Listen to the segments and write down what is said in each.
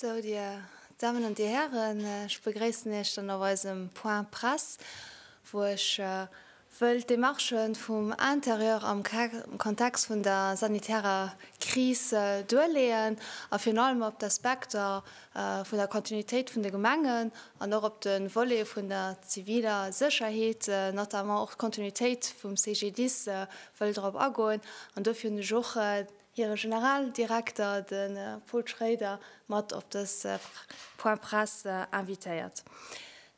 Sou, Dir Dammen an Dir Hären, ech begréissen Iech dann op eisem Point Presse, wou ech wëll d'Demarchë vum Intérieur am Kontext vun der sanitärer Kris duerleeën a virun allem op d'Aspekter vun der Continuitéit vun de Gemengen an och op de Volet vun der ziviler Sécherheet, notamment och d'Continuitéit vum CGDIS, wëll drop agoen an dofir hunn ech och hire Generaldirekter, de Paul Schrader, mat op dëse Point presse invitéiert.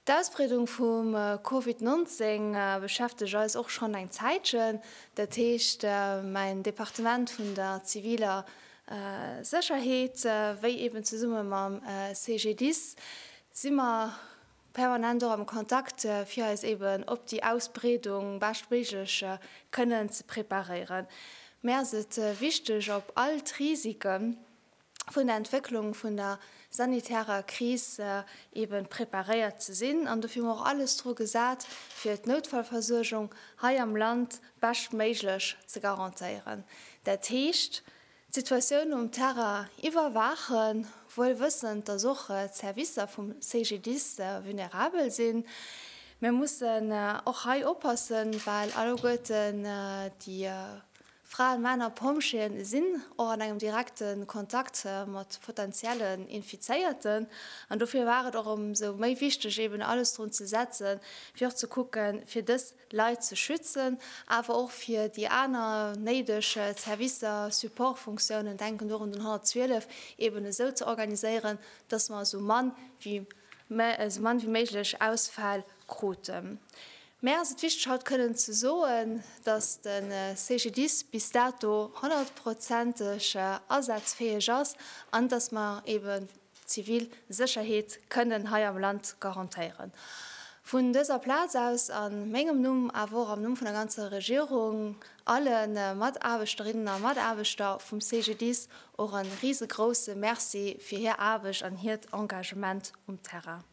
D'Ausbreedung vum Covid 19 beschäftegt eis och schonn eng Zäitchen, dat heescht mäin Departement vun der ziviler Sécherheet, wéi eben zesumme mam CGDIS si mer permanent och am Kontakt, fir eis eben op déi Ausbreedung beschtméiglech kënnen ze preparéieren. Mir ass et wichteg, op all d'Risike vun der Entwécklung vun der sanitärer Kris eben preparéiert ze sinn an dofir hu mer och alles dru gesat, fir d'Noutfallversuergung hei am Land beschtméiglech ze garantéieren. Dat heescht. d'Situatioun um Terrain iwwerwaachen, wuel wëssend, datt och d'Servicer vum CGDIS vulnerabel sinn. Mir mussen och hei oppassen, well alleguerten déi Fraen, Männer, Pompjeeën sinn och an engem direkte Kontakt mat potenziellen Infizéierten. An dofir war et och ëmsou méi wichteg, eeben alles drun ze setzen, fir och ze kucken, fir dës Leit ze schützen, awer och fir déi aner néideg Servicer, Supportfunktiounen, denken do un den 112, eben esou ze organiséieren, dass mer esou mann wéi méiglech Ausfäll kruten. Mär ass et wichteg haut kënnen ze soen, dass de CGDIS bis dato honnertprozenteg asazfäeg ass an dass mer eben, zivil Sécherheet kënnen hei am Land garantéieren. Vun dëser Plaz aus, a mengem Numm, awer och am Numm vun der ganzer Regierung, alle Mataarbechterinnen a Mataarbechter vum CGDIS och e risegrousse Merci fir hir Aarbecht an hiert Engagement um Terrain.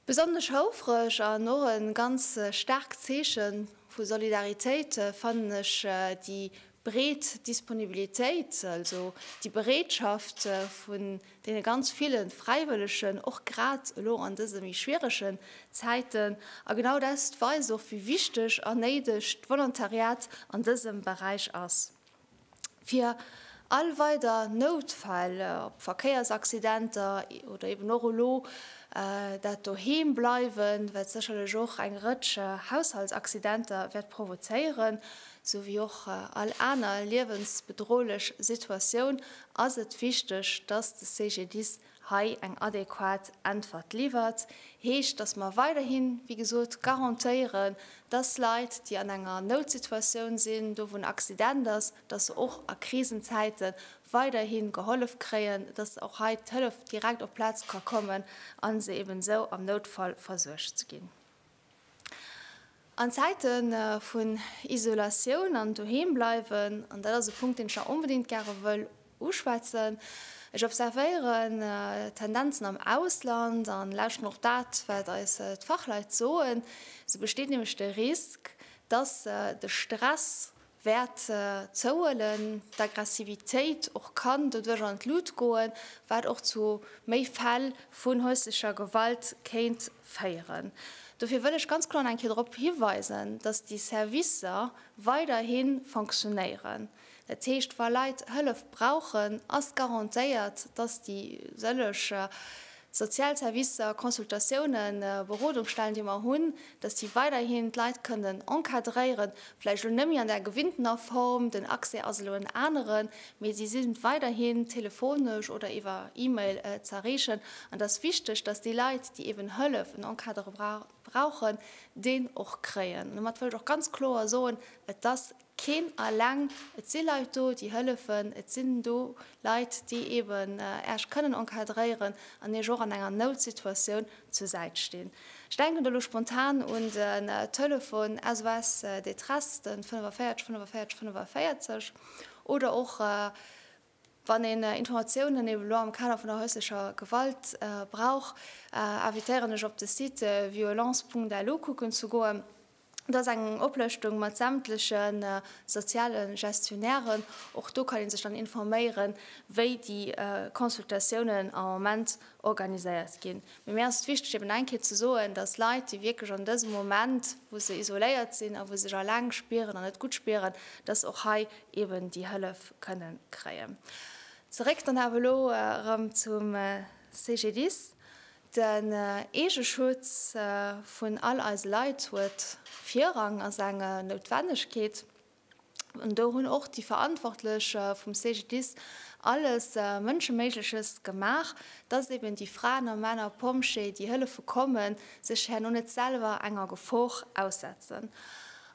Besonnesch houfreg an och e ganz staarkt Zeeche vu Solidaritéit fannen ech déi breet Disponibilitéit, also déi Bereetschaft vun deene ganz ville Fräiwëllegen, och grad elo an dëse méi schwieregen Zäiten. A genau dat weist och, wéi wichteg a néideg d'Volontariat an dësem Beräich ass. fir all weider Noutfäll, ob Verkéiersaccidenter oder eben och elo dat doheem bleiwen, wat sécherlech och eng Rëtsch Haushaltsaccidenter wäert provozéieren, sou wéi och all aner liewensbedrohlech Situatioun, ass et wichteg, dass de CGDIS hei eng adequat Äntwert liwwert, heescht, dass mer weiderhin, wéi gesot, garantéieren, dass Leit, déi an enger Noutsituatioun sinn, do wou en Accident ass, dass se och a Krisenzäite weiderhi gehollef kréien, dass och hei d'Hëllef direkt op d'Plaz ka kommen a se eeben esou am Noutfall versuergt ginn. An Zäite vun Isolatioun an doheem bleiwen, an dat ass e Punkt, deen ech nach onbedéngt gäre wëll uschwätzen, ech observéieren Tendenzen am Ausland a lauschteren och dat, wat eis d'Fachleit soen, esou besteet nämlech de Risk, dass de Stress, Wäert zouhuelen, d'Aggressivitéit och kann doduerch an d'Lut goen, wat och zu méi Fäll vun häuslecher Gewalt kéint féieren. Dofir wëll ech ganz kloer nach eng Kéier drop hiweisen, dass déi Servicer weiderhi fonctionnéieren. Dat heescht, wa Leit Hëllef brauchen, ass garantéiert, dass déi sëlleg Sozial Servicer, Consultatiounen, Berodungsstellen, déi mer hunn, dass déi weiderhin d'Leit kënnen encadréieren, vläicht elo net méi an der gewinntener Form, den Accès ass elo en aneren, mee si sinn weiderhin telefonesch oder iwwer E-Mail ze erreechen. An et ass wichteg, dass déi Leit, déi eeben Hëllef, en Encadrement brauchen, deen och kréien. Domat wëll ech och ganz kloer soen, et ass Keen alleng, et si Leit do, déi hëllefen, et sinn do Leit, déi eben Äech kënnen encadréieren an Iech och an enger Noutsituatioun zur Säit stinn. Ech denken do elo spontan un de Telefon SOS Détresse, de 45 45 45, oder och Wann een Informatiounen eben elo am Kader vun der häuslecher Gewalt brauch, invitéieren ech op de Site violence punkt lu kucken ze goen. Do ass eng Oplëschtung mat sämtleche soziale Gestionnairen. Och do kann ee sech dann informéieren, wéi déi Consultatiounen am Moment organiséiert ginn. Mee mir ass et wichteg eben eng Kéier ze soen, dass Leit, déi wierklech an dësem Moment, wou se isoléiert sinn a wou se sech eleng spieren an net gutt spieren, dass se och hei eben déi Hëllef kënnen kréien. Zeréck dann awer elo erëm zum CGDIS. Den Eegeschutz vun all eise Leit huet Virrang, ass eng Noutwennegkeet an do hunn och déi Verantwortlech vum CGDIS alles Mënscheméigleches gemaach, dass eben déi Fraen a Männer Pompjee, déi hëllefe kommen, sech herno net selwer enger Gefor aussetzen.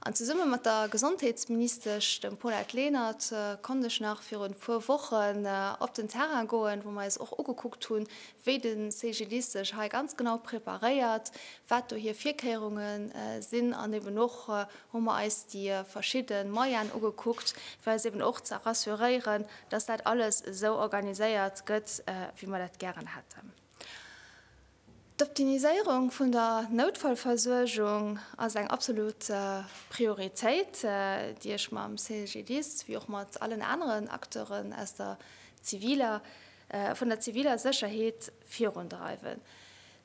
An zesumme mat der Gesondheetsministesch, dem Paulette Lenert, konnt ech nach virun e puer Wochen op den Terrain goen, wou mer eis och ugekuckt hunn, wéi de CGDIS sech hei ganz genau preparéiert, wat do hir Virkéierunge sinn. An eben och hu mer eis déi verschidde Moyene ugekuckt, fir eis eben och ze rassuréieren, dass dat alles esou organiséiert gëtt, wéi mer dat gären hätten. D'Optimiséierung vun der Noutfallversuergung ass eng absolut Prioritéit, déi ech mam CGDIS wéi och mat allen aneren Acteuren vun der ziviler Sécherheet virundreiwen.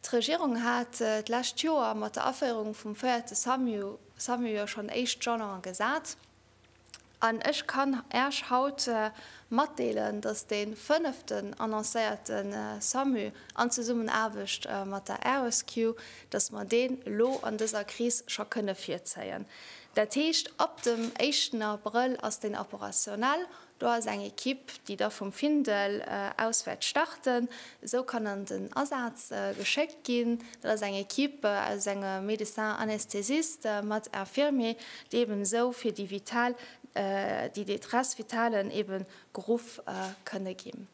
D'Regierung hat d'lescht Joer mat der Aféierung vum véierte SAMU jo schonn éischt Jalone gesat. An ech kann Äech haut matdeelen, dass dee fënneften annoncéierte SAMU an Zesummenaarbecht mat der Aeresque, dass mer deen elo an dëser Kris scho kënne virzéien. Dat heescht, ab dem éischten Abrëll ass deen operationell, Do ass eng Ekipp, déi da vum Findel aus wäert starten, esou kann an den Asaz geschéckt ginn. Dat ass eng Ekipp aus engem Médecin anesthésiste mat Infirmier, déi eben esou fir déi vital, déi Détresse vitale eben geruff kënne ginn.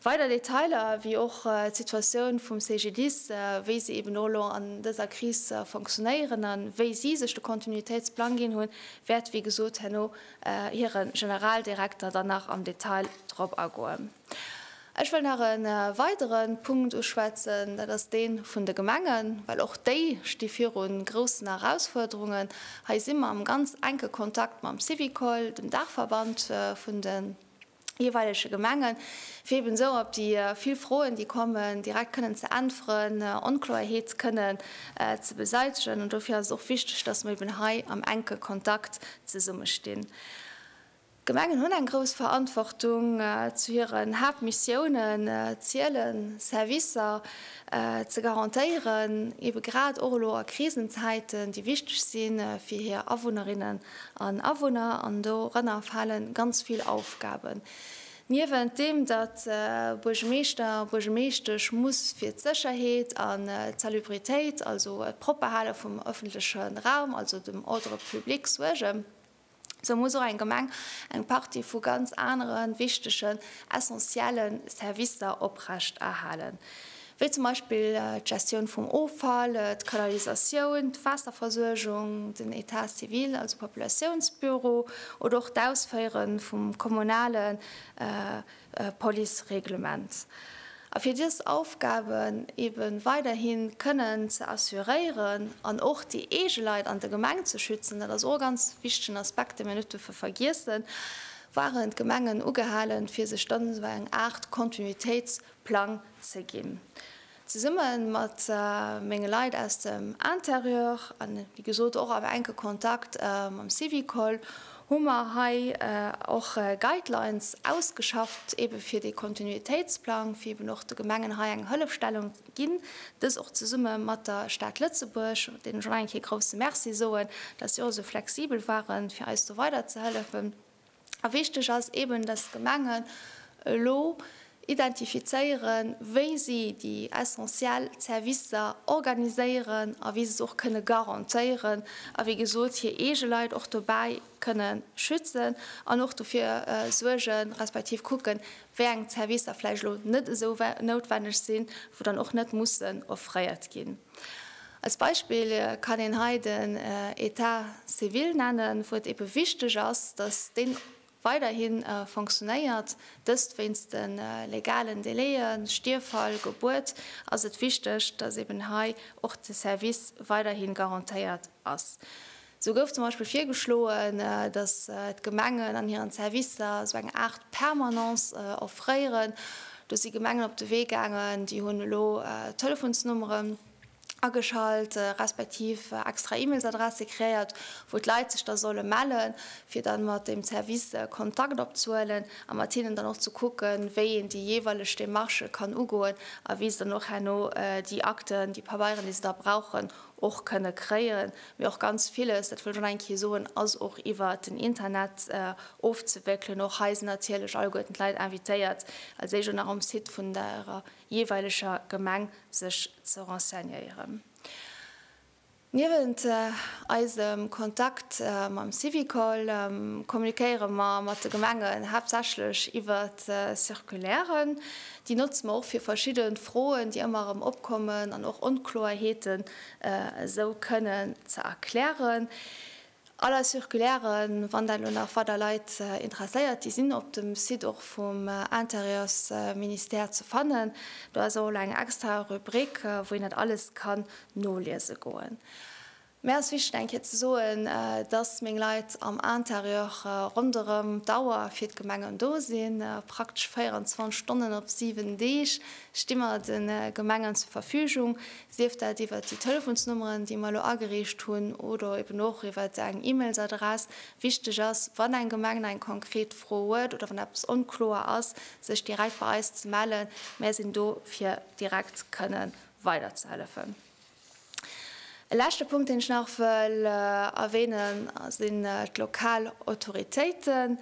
Weider Detailer, wéi och d'Situatioun vum CGDIS, wéi se eben och elo an dëser Kris fonctionnéieren a wéi si sech de Continuitéitsplang ginn hunn, wäert wéi gesot herno hire Generaldirekter dann nach am Detail drop agoen. Ech wëll nach e weidere Punkt uschwätzen, dat ass dee vun de Gemengen, well och déi sti viru groussen Erausfuerderungen. Hei si mer am ganz enke Kontakt mam Syvicol, dem Daachverband vun de. jeeweilege Gemenge fir eben esou op déi vill Froen, déi kommen, direkt kënnen ze äntweren, Onkloerheet kënnen ze beseitegen. An dofir ass et och wichteg, dass mer eben hei am enke Kontakt zesumme stinn. D'Gemengen hunn eng grouss Verantwortung. Zu hiren Haaptmissiounen ziele Servicer ze garantéieren, ebe grad och elo a Krisenzäiten, déi wichteg si fir hir Awunnerinnen an Awunner an dorënner fale ganz vill Aufgaben. Niewent deem, datt e Buergemeeschter, Buergemeeschtesch muss fir d'Sécherheet an d'Salubritéit, also d'Propperhale vum ëffentleche Raum, also dem Ordre public suergen, sou muss och eng Gemeng eng Partie vu ganz anere wichtegen, essentielle Servicer oprechterhalen. wéi zum Beispill d'Gestioun vum Offall, d'Kanalisatioun, d'Waasserversuergung, den État civil, also Populatiounsbüro, oder och d'Ausféiere vum kommunale Policereglement. A fir dës Aufgaben ebe weiderhi kënnen ze assuréieren an och déi eege Leit an der Gemeng ze schützen, dat ass och e ganz wichtegen Aspekt, dee mir net duerfe vergiessen, waren d'Gemengen ugehalen, fir sech dann esou eng Aart Kontinuitéits-, Plang ze ginn. Zesumme mat menge Leit aus dem Intérieur an, wéi gesot, och am enke Kontakt mam Syvicol hu mer hei och Guidelines ausgeschafft, eebe fir dee Kontinuitéitsplang, fir eeben och de Gemengen hei eng Hëllefstellung ze ginn. Dës och zesumme mat der Stad Lëtzebuerg, deenen ech och nach eng Kéier grousse Merci soen, dass si och esou flexibel ware fir eis do weiderzehëllefen. A wichteg ass eeben, dass d'Gemengen elo identifizéieren, wéi si déi essentiell Servicer organiséieren a wéi se se och kënne garantéieren a wéi gesot hir eege Leit och dobäi kënne schützen an och dofir suergen, respektiv kucken, wéi eng Servicer vläicht elo net esou noutwenneg sinn, wou dann och net mussen offréiert ginn. Als Beispill kann een hei den État civil nennen, wou et eebe wichteg ass, dass dee weiderhi fonctionéiert. Dëst wéinst de legalen Délaiën, Stierffall, Gebuert, ass et wichteg, dass eeben hei och de Service weiderhi garantéiert ass. Sou gouf zum Beispill virgeschloen, datt d'Gemengen an hiren Servicer sou eng Aart Permanence offréieren. Do si Gemengen op de Wee gaangen, déi hunn elo Telefonsnummeren ageschalt, respektiv extra E-Mails-Adresse kreéiert, wou d'Leit sech da solle melle fir da mat deem Service Kontakt opzehuelen a mat hinnen dann och ze kucken, wéi een déi jeeweileg Demarche kann ugoen a wéi se dann och herno déi Akten, déi Pabeieren, déi se da brauchen, och kënne kréien, mee och ganz villes, dat wëll ech och nach eng Kéier soen, ass och iwwert den Internet ofzewéckelen. Och hei sinn natierlech alleguerten d'Leit invitéiert, als éischt och nach um Site vun der jeeweileger Gemeng sech ze renseignéieren. Niewent eisem Kontakt mam Syvicol kommuniquéiere mer mat de Gemengen haaptsächlech iwwert Circulairen. Déi notze mer och fir verschidde Froen, déi ëmmer erëm opkommen, an och Onkloerheeten esou kënnen ze erklären. All eis Circulairen, wann dat elo nach weider Leit interesséiert, déi sinn op dem Site och vum Intérieursministère ze fannen. Do ass och elo eng extra Rubrik, wou een dat alles kann noliese goen. Mir ass wichteg eng Kéier ze soen, dass meng Leit am Interieur ronderëm d'Auer fir d'Gemengen do sinn. Praktesch 24 Stonnen op 7 Deeg sti mer de Gemengen zur Verfügung, sief dat iwwert déi Telefonsnummeren, déi mer elo agereecht hunn, oder eben och iwwer eng E-Mailsadress. Wichteg ass, wann eng Gemeng eng konkret Fro huet oder wann eppes onkloer ass, sech direkt bei eis ze mellen. Mir sinn do fir direkt kënnen weiderzehellefen. E leschte Punkt, deen ech nach wëll erwähnen, sinn d'lokal Autoritéiten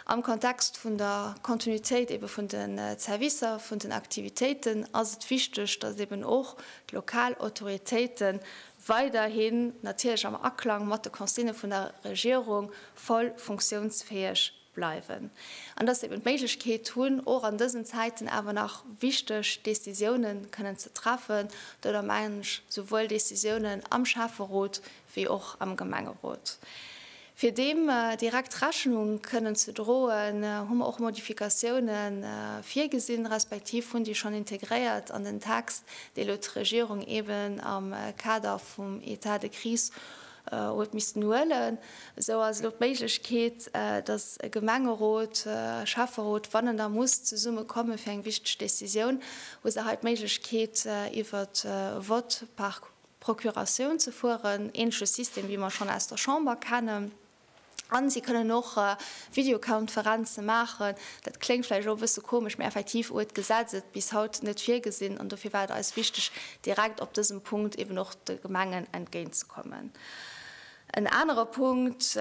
am Kontext vun der Kontinuitéit eebe vun de Servicer, vun den Aktivitéiten ass et wichteg, dass eeben och d'lokal Autoritéite weiderhin natierlech am Aklang mat de Consignë vun der Regierung voll funktionsfäeg bleiwen an dass se eben d'Méiglechkeet hunn, och an dësen Zäiten awer nach wichteg Décisioune kënnen ze treffen. Domadder mengen ech souwuel Décisiounen am Schäfferot wéi och am Gemengerot. Fir deem direkt Rechnung kënnen ze droen, hu mer och Modifikatioune virgesinn, respektiv hunn déi schonn integréiert an den Text, dee elo d'Regierung eben am Kader vum Etat de crise huet missten huelen, esou ass elo d'Méiglechkeet, datt e Gemengerot, e Schäfferot, wann en da muss zesumme komme fir eng wichteg Décisioun, hu se hei d'Méiglechkeet iwwer e Vote par procuration ze fueren, ähnleche System wéi mer schonn aus der Chamber kennen. An si kënnen och Videokonferenze maachen. Dat kléngt vläicht och e bësse komesch, mä effektiv huet d'Gesetz et bis haut net virgesinn. An dofir war et eis wichteg, direkt op dësem Punkt eben och de Gemengen entgéintzekommen. En anere Punkt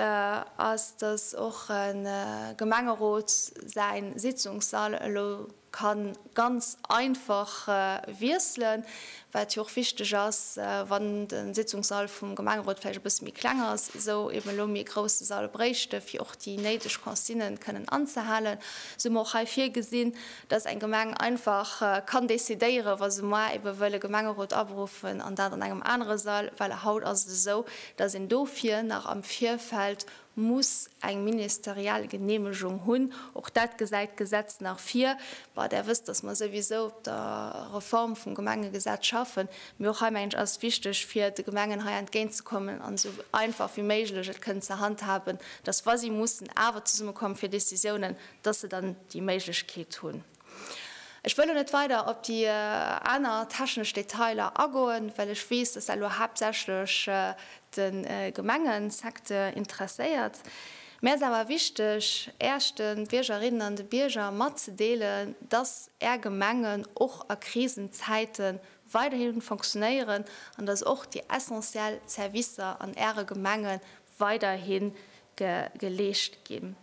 ass, dass och e Gemengerot säin Sitzungssall elo kann ganz einfach wiesselen, wat jo och wichteg ass, wann de Sitzungssall vum Gemengerot vläicht e bësse méi kleng ass, esou eeben elo méi grousse Sall bréichte fir och déi néideg Consignen kënnen anzehalen, esou hu mer och hei virgesinn, dass eng Gemeng einfach kann decidéieren, wa se moar eebe wëll e Gemengerot aberuffen an dat an engem anere Sall, well haut ass et esou, dass een dofir nach am Virfeld muss eng ministeriell Genehmegung hunn. Och dat gesäit d'Gesetz nach vir. Bon, Där wësst, dass mer souwisou op der Reform vum Gemengegesetz schaffen, mee och hei, mengen ech, ass et wichteg, fir de Gemengen hei entgéintzekommen an esou einfach wéi méiglech et kënnen ze handhaben, dass, wa si mussen awer zesummekommen fir Décisiounen, dass se dann déi Méiglechkeet hunn. Ech wëll elo net weider op déi aner technesch Detailer agoen, well ech weess, dass dat elo haaptsächlech de Gemengesecteur interesséiert. Mir ass awer wichteg, Iech, de Biergerinnen an de Bierger, matzedeelen, dass Är Gemengen och a Krisenzäite weiderhi fonctionnéieren an dass och déi essentiell Servicer an Äre Gemenge weiderhi geleescht ginn.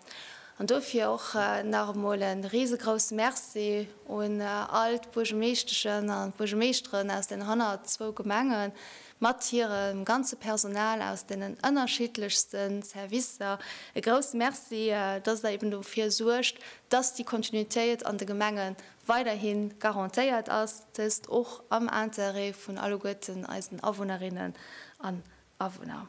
An dofir och nach emol e risegrousse Merci un all d'Buergermeeschteschen an d'Buergermeeschteren aus den hannert zwou Gemenge mat hirem ganze Personal aus deenen ënnerschiddlechste Servicer. E grousse Merci, dass Der eben dofir suergt, dass déi Kontinuitéit an de Gemenge weiderhi garantéiert ass, dëst och am Interêt vun alleguerten eisen Awunnerinnen an Awunner.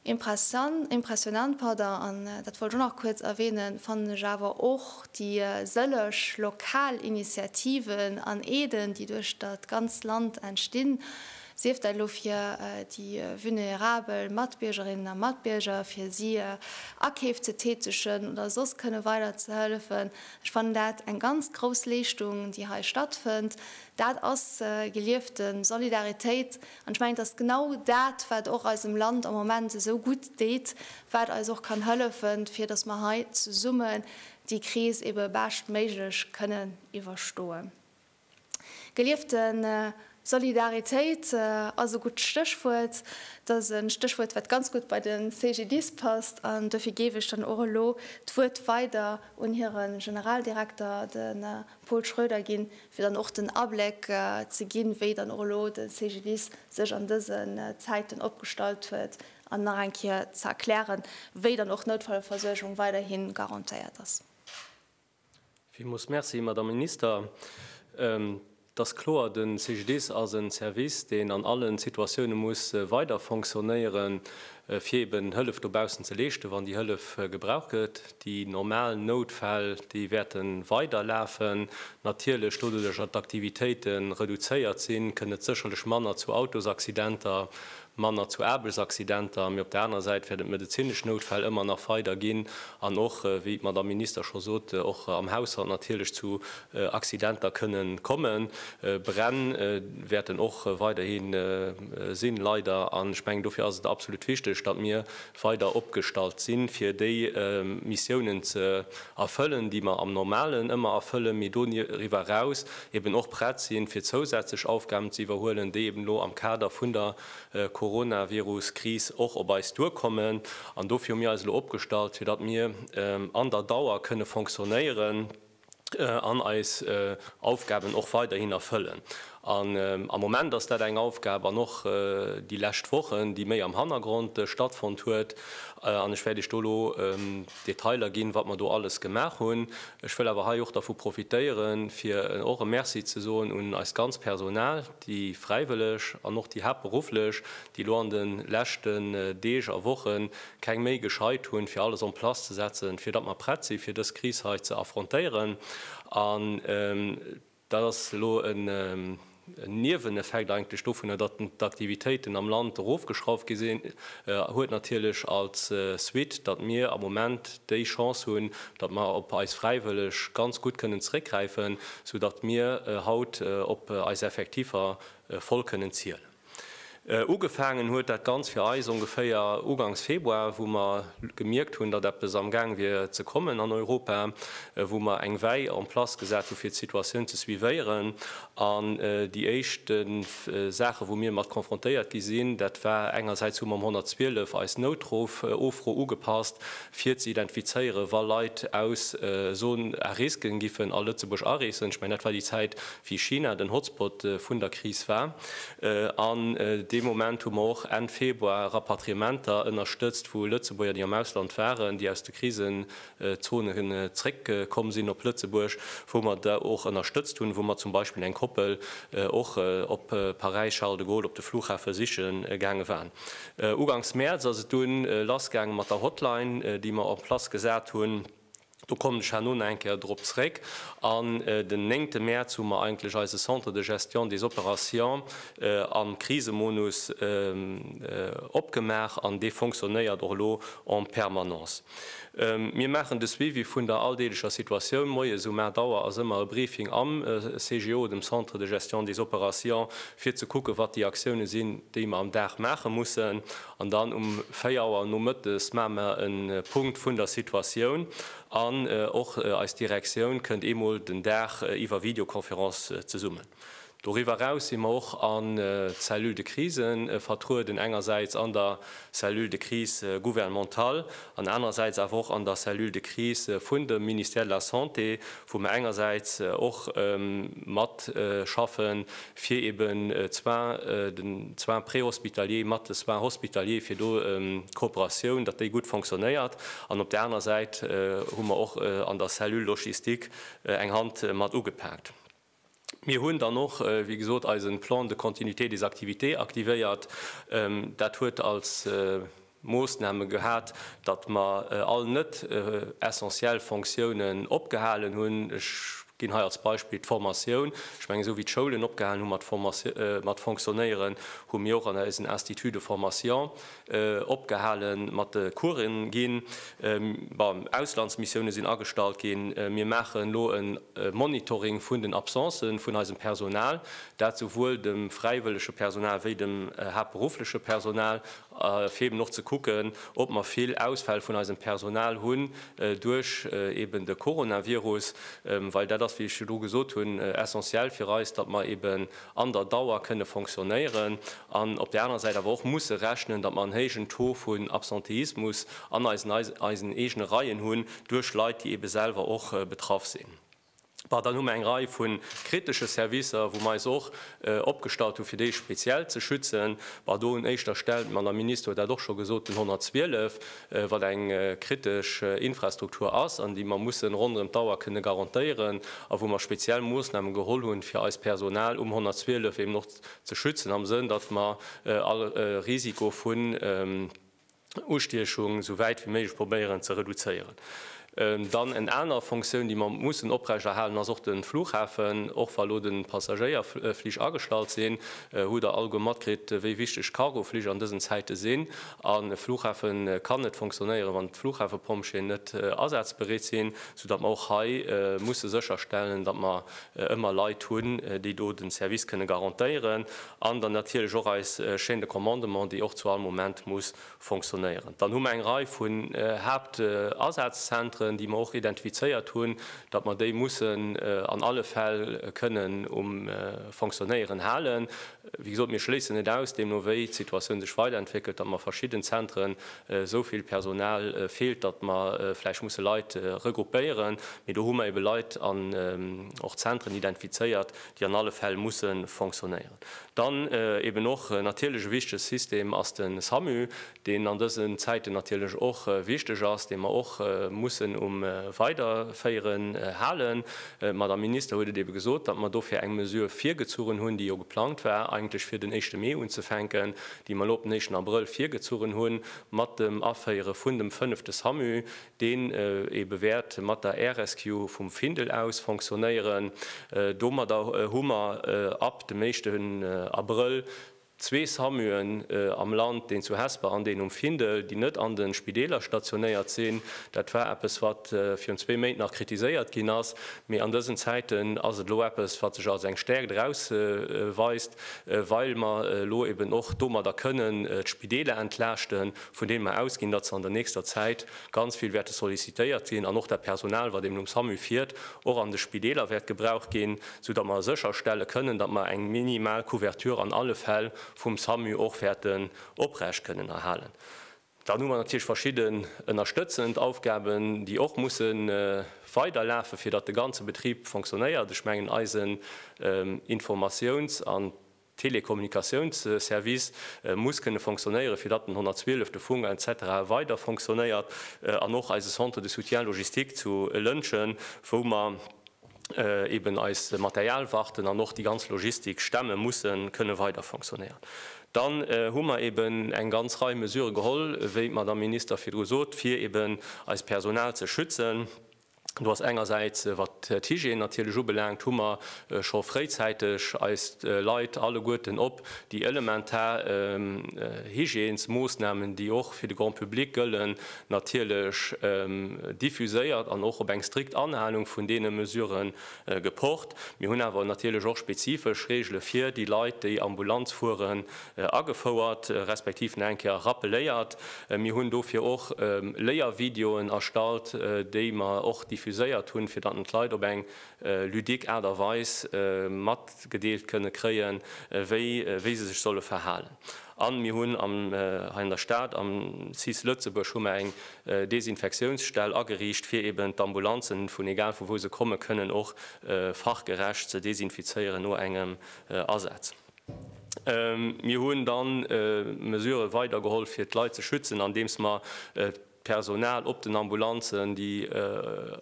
Impressan, impressionant, pardon, an dat wollt ech och nach kuerz erwähnen, fannen ech awer och déi sëlleg lokal Initiativen an Aiden, déi duerch dat ganzt Land entstinn, sief dat elo fir déi vulnerabel Matbiergerinnen a Matbierger, fir si Akeef ze tätegen oder soss kënne weider ze hëllefen. Ech fannen dat eng ganz grouss Leeschtung, déi hei stattfënnt. Dat ass geliefte Solidaritéit. An ech mengen, et ass genau dat, wat och eisem Land am Moment esou gutt deet, wat eis och kann hëllefen, fir dass mer hei zesummen déi Kris ebe beschtméiglech kënnen iwwerstoe Geliefte Solidaritéit ass e gutt Stéchwuert. Et ass e Stéchwuert, wat ganz gutt bei de CGDIS passt. An dofir géif ech dann och elo d'Wuert weider un hire Generaldirekter, de Paul Schroeder ginn, fir dann och den Abléck ze ginn, wéi dann och elo de CGDIS sech an dësen Zäiten opgestallt huet an nach eng Kéier ze erklären, wéi dann och d'Noutfallversuergung weiderhi garantéiert ass. Villmools Merci, Madame Minister. Et ass kloer, de CGDIS ass e Service, deen an alle Situatioune muss weiderfonctionnéieren, fir eeben Hëllef dobaussen ze leeschten, wann déi Hëllef gebraucht gëtt. Déi normal Noutfäll, déi wäerte weider lafen. Natierlech, doduerch datt d'Aktivitéite reduzéiert sinn, kënnt et sécherlech manner zu Autosaccidenter, manner zu Aarbechtsaccidenter. Mee op der anerer Säit wäert et medezinesch Noutfäll ëmmer nach weider ginn an och, wéi d'Madamm Minister scho sot, och am Haushalt natierlech zu Accidenter kënne kommen. Bränn wäerten och weiderhi sinn, leider. An ech mengen, dofir ass et absolut wichteg, datt mir weider opgestallt sinn, fir déi Missiounen ze erfëllen, déi mer am Normalen ëmmer erfëllen, mee doriwwer eraus eben och prett sinn, fir zousätzlech Aufgaben ze iwwerhuelen, déi eben elo am Kader vun der Coronavirus-Kris och op eis duerkommen. An dofir hu mir eis elo opgestallt, fir datt mir an der Dauer kënne fonctionnéieren. an eis Aufgaben och weiderhin erfëllen. An am Moment ass dat eng Aufgab, an och déi lescht Wochen, déi méi am Hannergrond stattfonnt huet. An ech wäert Iech do elo Detailer ginn, wat mer do alles gemaach hunn. Ech wëll awer hei och dervu profitéieren, fir och e Merci ze soen un eist ganz Personal, Déi Fräiwëlleg an och déi Haaptberufflech, déi elo an de leschten Deeg a Woche keng Méi gescheit hunn, fir alles en place ze setzen, fir datt mer prett si fir dës Kris hei ze affrontéieren. An dat ass elo en Nieweneffekt eigentlech dovunner, datt d'Aktivitéiten am Land erofgeschrauft gi sinn, huet natierlech als Suite, datt mir am Moment déi Chance hunn, datt mer op eis Fräiwëlleg ganz gutt kënnen zeréckgräifen, sou datt mir haut op eis Effektiffer voll kënnen zielen. Ugefaangen huet dat Ganzt fir eis ongeféier ugangs Februar, wou mer gemierkt hunn, datt eppes am Gaang wier ze kommen an Europa, wou mer eng Wäi en place gesat hu fir d'Situatioun ze suivéieren. An déi éischt Saache wou mir mat konfrontéiert gi sinn, dat war engersäits hu mer um 112 eis Noutruff-Offro ugepasst, fir ze identifizéieren, wa Leit aus Zone à risque giffen a Lëtzebuerg areesen. Ech mengen, dat war déi Zäit, wéi China den Hotspot vun der Kris war. An dee Moment hu mer och Enn Februar Rapatriementer ënnerstëtzt vu Lëtzebuerger, déi am Ausland waren, déi aus de Krisenzonen zréckkomm sinn op Lëtzebuerg, wou mer da och ënnerstëtzt hunn, wou mer zum Beispill eng Koppel och op Paräis Charles de Gaulle op de Flughafe siche gaange waren. Uganks Mäerz ass et dunn lass gaange mat der Hotline, déi mer en place gesat hunn. Do kommen ech herno nach eng Kéier drop zréck. An den néngte Mäerz hu mer eigentlech eise Centre de gestion des opérations am Krisemodus opgemaach an dee fonctionnéiert och elo en permanence. Mir maachen de Suivi vun der alldeeglecher Situatioun. Moies um 8 Auer ass ëmmer e Briefing am CGO, dem Centre de gestion des opérations, fir ze kucken, wat déi Aktiounen sinn, déi mer am Dag maache mussen, an dann um 4 Auer nomëttes maache mer e Punkt vun der Situatioun an och eis Direktioun kënnt eemol den Dag iwwer Videoconférence zesummen. Doriwwer eraus si mer och an d'Cellule de crise vertrueden, engersäits an der Cellule de crise gouvernementale an anerersäits awer och an der Cellule de crise vun dem Ministère de la Santé, wou mer engersäits och matschaffen, fir eben d'Soins, den Soins préhospitaliers mat de Soins hospitaliers, fir do d'Kooperatioun, datt déi gutt fonctionnéiert. An op der aner Säit hu mer och an der Cellule logistique eng Hand mat ugepaakt. Mir hunn dann och, wéi gesot, eise Plan de continuité des activités aktivéiert. Dat huet als Moossname gehat, datt mer all net essentiell Fonctiounen opgehalen hunn. Ech ginn hei als Beispill d'Formatioun. Ech mengen, esou wéi d'Schoulen opgehalen hu mat fonctionnéieren, hu mir och an eisen Instituts de formation Opgehale mat de Coursen ginn. Bon, Auslandsmissioune sinn agestallt ginn. Mir maachen elo e Monitoring vun den Absencen vun eisem Personal, dat souwuel dem fräiwëllege Personal wéi dem haaptberuffleche Personal, fir eeben och ze kucken, ob mer vill Ausfäll vun eisem Personal hunn duerch eeben de Coronavirus. Well dat ass, wéi ech virdru gesot hunn, essentiell fir eis, datt mer eeben an der Dauer kënne fonctionnéieren an op där anerer Säit awer och musse rechnen, datt mer en héijen Taux vun Absenteismus an eisen eisen eegene Reien hunn duerch Leit, déi ebe selwer och betraff sinn. Bon, dann hu mer eng Rei vu kritesche Servicer, wou mer eis och opgestallt hu fir déi speziell ze schützen. Bon, do un éischter Stell, d'Madame Minister huet dat och scho gesot, den 112, wat eng kritesch Infrastruktur ass an déi mer mussen ronderëm d'Auer kënne garantéieren a wou mer speziell Moossname geholl hunn, fir eist Personal um 112 eben och ze schützen am Sënn, datt mer all Risiko vun Ustiechung esou wäit wéi méiglech probéieren ze reduzéieren. Dann en aner Fonctioun, déi mer mussen oprechterhalen, ass och de Flughafen. Och wa elo de Passagéierflich agestallt sinn, hutt Der alleguer matkritt, wéi wichteg d'Cargoflich an dësen Zäite sinn. A Flughafe kann net fonctionnéieren, wann d'Flughafepompjeeën net asazbereet sinn, soudatt mer och hei musse sécherstellen, datt mer ëmmer Leit hunn, déi do de Service kënne garantéieren. An dann natierlech och eis Chaîne de commandement, déi och zu all Moment muss fonctionnéieren. Dann hu mer eng Rei vun Haaptasazenzentren, déi mer och identifizéiert hunn, datt mer déi mussen an alle Fäll kënnen um Fonctionnéieren halen. Wéi gesot, mir schléissen net aus, deemno wéi d'Situatioun sech weiderentwéckelt, datt mer verschidden Zentren esou vill Personal feelt, datt mer vläicht musse Leit regroupéieren. Mee do hu mer ebe Leit an och Zentren identifizéiert, déi an alle Fäll musse fonctionnéieren. Dann eben och natierlech e wichtege System ass de Samu, deen an dësen Zäiten natierlech och wichteg ass, dee mer och mussen um Weiderféieren halen. D'Madame Minister huet et ebe gesot, datt mer dofir eng Mesure virgezuchen hunn, déi jo geplangt war eigentlech fir den éischte Mee unzefänken, déi mer elo op den éischten Abrëll virgezuchen hunn mat dem Aféiere vun dem fënnefte Samu, deen ebe wäert mat der Air Rescue vum Findel aus fonctionnéieren. Domadder hu mer ab dem éischten Abrëll zwee Samuen am Land, deen zu Hesper an deen um Findel, déi net an de Spideeler stationéiert sinn. Dat war eppes, wat virun zwee Méint nach kritiséiert ginn ass, mee an dësen Zäiten ass et elo eppes, wat sech als eng Stäerkt erausweist, well mer elo eben och domadder kënnen d'Spideeler entlaaschten. vun deem mer ausginn, datt se an der nächster Zäit ganz vill wäerte sollicitéiert ginn an och dat Personal, wat eben um Samu fiert, och an de Spideeler wäert gebraucht ginn, soudatt mer sécherstelle kënnen, datt mer eng minimal Couverture an alle Fäll vum Samu och wäerten oprecht kënnen erhalen. Dann hu mer natierlech verschidden ënnerstëtzend Aufgaben, déi och musse weiderlafen, fir datt de ganze Betrib fonctionnéiert. Ech mengen eisen Informatiouns an Telekommunikatiounsservice muss kënne fonctionnéieren, fir datt den 112, de Funk etc. Weider fonctionnéiert an och eise Centre de soutien logistique zu Lëntgen, wou mer eeben eis Material warten an och déi ganz Logistik stemmen, musse kënne weider fonctionnéieren. Dann hu mer eeben eng ganz Rei Mesurë geholl, wéi d'Madame Minister virdru sot, fir eeben eist Personal ze schützen. Do ass engersäits, wat d'Hygiène natierlech ubelaangt, hu mer scho fréizäiteg eis Leit alleguerten op déi elementar Hygiènesmoossnamen, déi och fir de Grand public gëllen, natierlech diffuséiert an och op eng strikt Anhalung vun deene Mesurë gepocht. Mir hunn awer natierlech och spezifesch Reegele fir déi Leit, déi Ambulanz fueren, agefouert, respektiv nach eng Kéier rappeléiert. Mir hunn dofir och Léiervideoen erstallt, déi mer och diffuséiert hunn, fir datt d'Leit op eng ludique Aart a Weis matgedeelt kënne kréien, wéi wéi se sech solle verhalen. A mir hunn am hei an der Stad, am cis Lëtzebuerg, hu mer eng Desinfektiounsstell ageriicht, fir eben d'Ambulanzen, vun egal vu wou se kommen, kënnen och fachgerecht ze desinfizéieren no engem Asaz. Mir hunn dann Mesurë weidergeholl fir d'Leit ze schützen, andeems mer d'Personal op den Ambulanzen, déi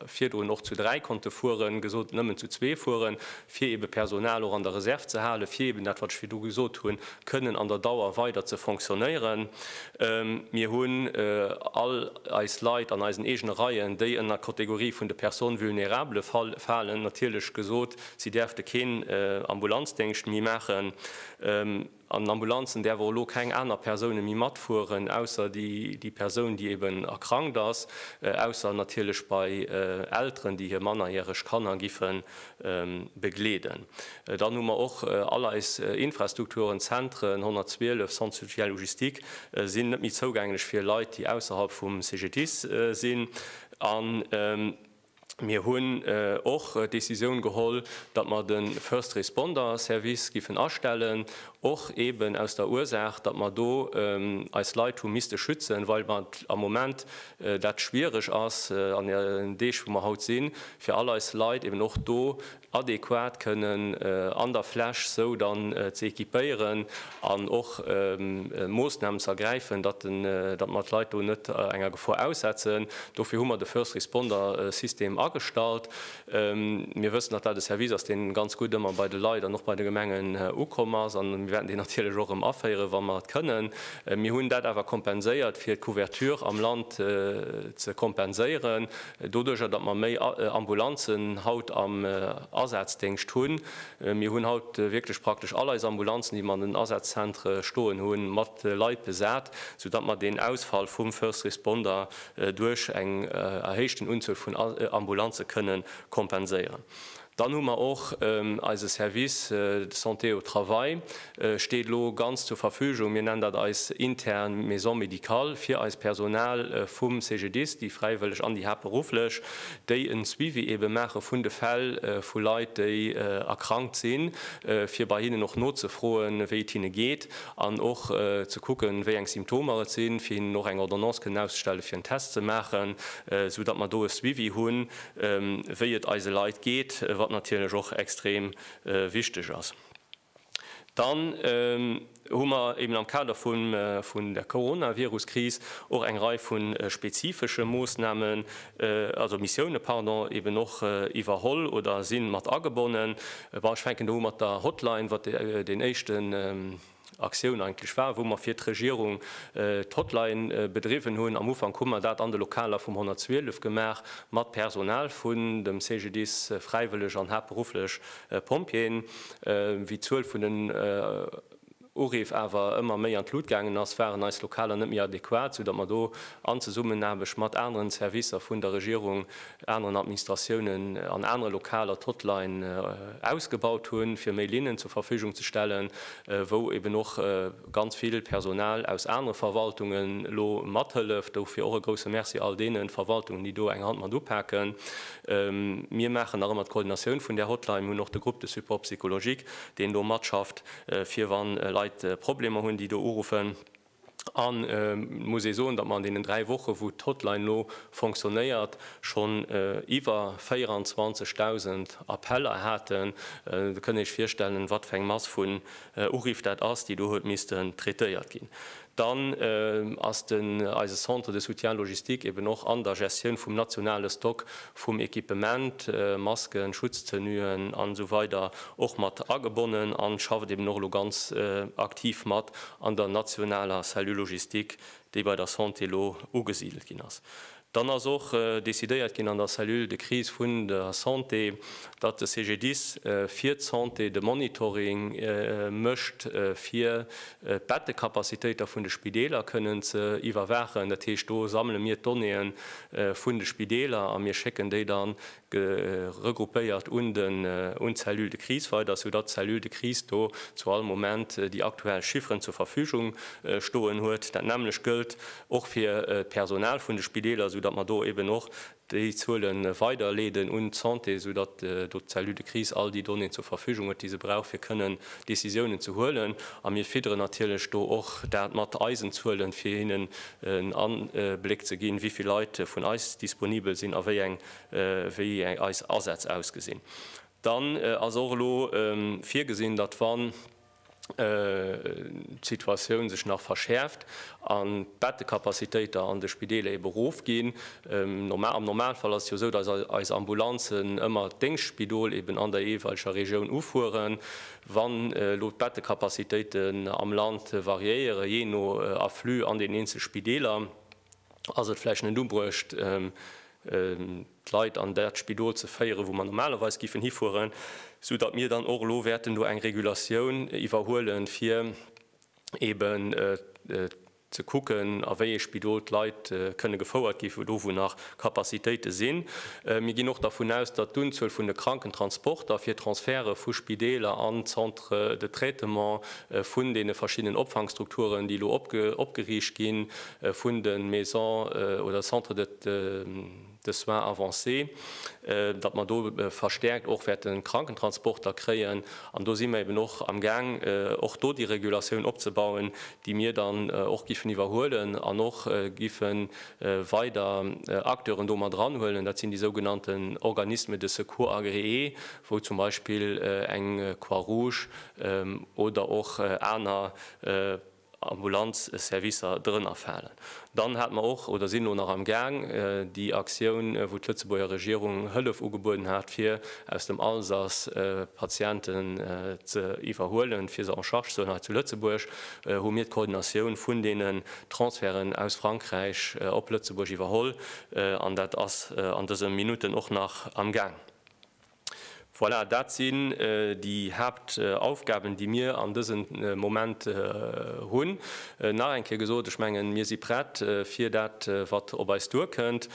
virdrun och zu dräi konnte fueren, gesot hunn, nëmmen zu zwee fueren, fir ebe Personal och an der Reserv ze halen, fir eben dat wat ech virdru gesot hunn, kënnen an der Dauer weider ze fonctionnéieren. Mir hunn all eis Leit an eisen eegene Reien, déi ënner d'Kategorie vun de Personnes vulnérables falen, natierlech gesot, Si däerfte keen Ambulanzdéngscht méi maachen. An den Ambulanzen däerf och elo keng aner Persoune méi matfueren, ausser déi Persoun, déi eben erkrankt ass, ausser natierlech bei Elteren, déi hir mannerjäreg Kanner giffen begleeden. Dann hu mer och all eis Infrastrukturen, Zentren, 112, Centre social logistique, sinn net méi zougänglech fir Leit, déi ausserhalb vum CGDIS sinn. Mir hunn och d'Decisioun geholl, datt mer de First Responder Service géifen astellen, och eeben aus der Ursaach, datt mer do eis Leit hu misste schützen, well et am Moment dat schwierig ass an deenen Deeg wou mer haut sinn, fir all eis Leit eeben och do adequat kënnen an der Fläch sou dann ze equipéieren an och Moossnamen ze ergräifen, datt mer d'Leit do net enger Gefor aussetzen. Dofir hu mer de First Responder System agestallt. Mir wëssen, datt dat e Service ass, dee ganz gutt ëmmer bei de Leit an och bei de Gemengen ukomm ass a mir wäerten deen natierlech och erëm aféieren, wa mer et kënnen. Mir hunn dat awer kompenséiert, fir d'Couverture am Land ze kompenséieren. Doduerjer, datt mer méi Ambulanzen haut am Asazdingscht hunn, mir hunn haut wierklech praktesch all eis Ambulanzen, déi mer an den Asazzentre stoen hunn, mat Leit besat, soudatt mer deen Ausfall vum First Responder duerch eng erhéichten Unzuel vun Ambulanze kënnen kompenséieren. Dann hu mer och eise Service Santé au travail steet elo ganz zur Verfügung, mir nennen dat eis intern Maison médicale fir eist Personal vum CGDIS, déi fräiwëlleg an déi haaptberufflech, déi en Suivi eebe maache vun de Fäll vu Leit, déi erkrankt sinn, fir bei hinnen och nozefroen, wéi et hinne geet an och ze kucken, wéi eng Symptomer et sinn, fir hinnen och eng Ordonnance kënnen auszestellen, fir en Test ze maachen, esou datt mer do e Suivi hunn. wéi et eise Leit geet, wat natierlech och extrem wichteg ass. Dann hu mer eben am Kader vun der Coronavirus-Kris och eng Rei vu spezifesche Moosnamen, also Missioune, pardon, eben och iwwerholl oder si mat agebonnen. Bon, ech fänken do u mat der Hotline, wat deen éischte. Aktioun eigentlech war, wou mer fir d'Regierung d'Hotline bedriwwen hunn. Am Ufank hu mer dat an de Lokaler vum 112 gemaach, mat Personal vun dem CGDIS, Fräiwëlleg an haaptberufflech Pompjeeën. Wéi d'Zuel vun den Uriff awer ëmmer méi an d'Lut gaangen ass, waren eis Lokaler net méi adequat, soudatt mer do an Zesummenaarbecht mat aneren Servicer vun der Regierung aneren Administratiounen an anere Lokaler d'Hotline ausgebaut hunn, fir méi Linnen zur Verfügung ze stellen, wou eben och ganz vill Personal aus anere Verwaltungen elo mathëlleft. Dofir och e grouse Merci all deene Verwaltungen, déi do eng Hand mat upaken. Mir maachen nach ëmmer d'Coordinatioun vun där Hotline. Mir hunn och de Groupe de support psychologique, deen do matschafft, fir wa Leit Problemer hunn, déi do uruffen. An et muss ee soen, datt mer an deenen dräi Woche wou d'Hotline elo fonctionnéiert, schonn iwwer 24.000 Appeller haten. Da kënnt Dir Iech virstellen, wat fir eng Mass vun Uriff dat ass, déi do huet missten traitéiert ginn. Dann ass den eise Centre de soutien logistique eben och an der Gestioun vum nationale Stock vum Equipement, Masken, Schutztenuen an esou weider och mat agebonnen an schafft eben och elo ganz aktiv mat an der nationaler Cellule logistique, déi bei der Santé elo ugesidelt ginn ass. Dann ass och decidéiert ginn an der Cellule de crise vun der Santé, datt de CGDIS fir d'Santé de Monitoring mécht, fir d'Bettekapazitéiter vun de Spideeler kënnen ze iwwerwaachen. Dat heescht, do sammele mir d'Donnéeë vun de Spideeler a mir schécken déi dann Ge regroupéiert un den un d'Cellule de crise weider, sou datt d'Cellule de crise do zu all Moment déi aktuell Chifferen zur Verfügung stoen huet. Dat nämmlecht gëllt och fir d'Personal vun de Spideeler, sou datt mer do eben och déi Zuele weiderleeden un d'Santé, sou datt do d'Cellule de crise all déi Donnéeën zur Verfügung huet, déi se brauch fir kënnen Décisiounen ze huelen. A mir fidderen natierlech do och dat mat eisen Zuelen, fir hinnen en Abléck ze ginn, wéi vill Leit vun eis disponibel sinn a wéi eng wéi eis Asätz ausgesinn. Dann ass och elo virgesinn, datt wann d'Situatioun sech nach verschäerft an d'Bettekapazitéiter an de Spideeler ebe rofginn, am Normalfall ass et jo esou, datt eis Ambulanzen ëmmer d'Déngschtspidol eben an der jeeweileger Regioun ufueren, wann elo d'Bettekapazitéiten am Land variéiere jee no Afflux an den eenzel Spideeler, ass et vläicht net ubruecht, d'Leit an dat Spidol ze féieren, wou mer normalerweis géifen hifueren, sou datt mir dann och elo wäerten do eng Regulatioun iwwerhuelen, fir eeben ze kucken, a wéi ee Spidol d'Leit kënne gefouert gi do, wou nach Capacitéite sinn. Mir ginn och dervun aus, datt d'Unzuel vun de Krankentransporter fir d'Transferte vu Spideeler an d'Centre de traitement vun deene verschiddenen Opfangstrukturen, déi elo opgeriicht ginn, vun de Maison oder Centre de. de Soins avancés, datt mer do verstäerkt och wäerten Krankentransporter kréien. An do si mer eben och am Gaang, och do déi Regulatioun opzebauen, déi mir dann och giffen iwwerhuelen an och giffe weider Acteuren do mat eranhuelen. Dat sinn déi sougenannten Organismes de secours agréés, wou zum Beispill eng Croix-Rouge oder och aner, Ambulanzservicer drënner falen. Dann hate mer och, oder sinn elo nach am Gaang, déi Aktioun, wou d'Lëtzebuerger Regierung Hëllef ugebueden hat, fir aus dem Alsace Patienten ze iwwerhuelen, fir se en charge ze huelen hei zu Lëtzebuerg, hu mir d'Koordinatioun vun deenen Transferten aus Frankräich op Lëtzebuerg iwwerholl. An dat ass an dëse Minutten och nach am Gaang. Voilà, dat sinn déi Haaptaufgaben, déi mir an dësem Moment hunn. Nach eng Kéier gesot, ech mengen, mir si prett fir dat, wat op eis duerkënnt.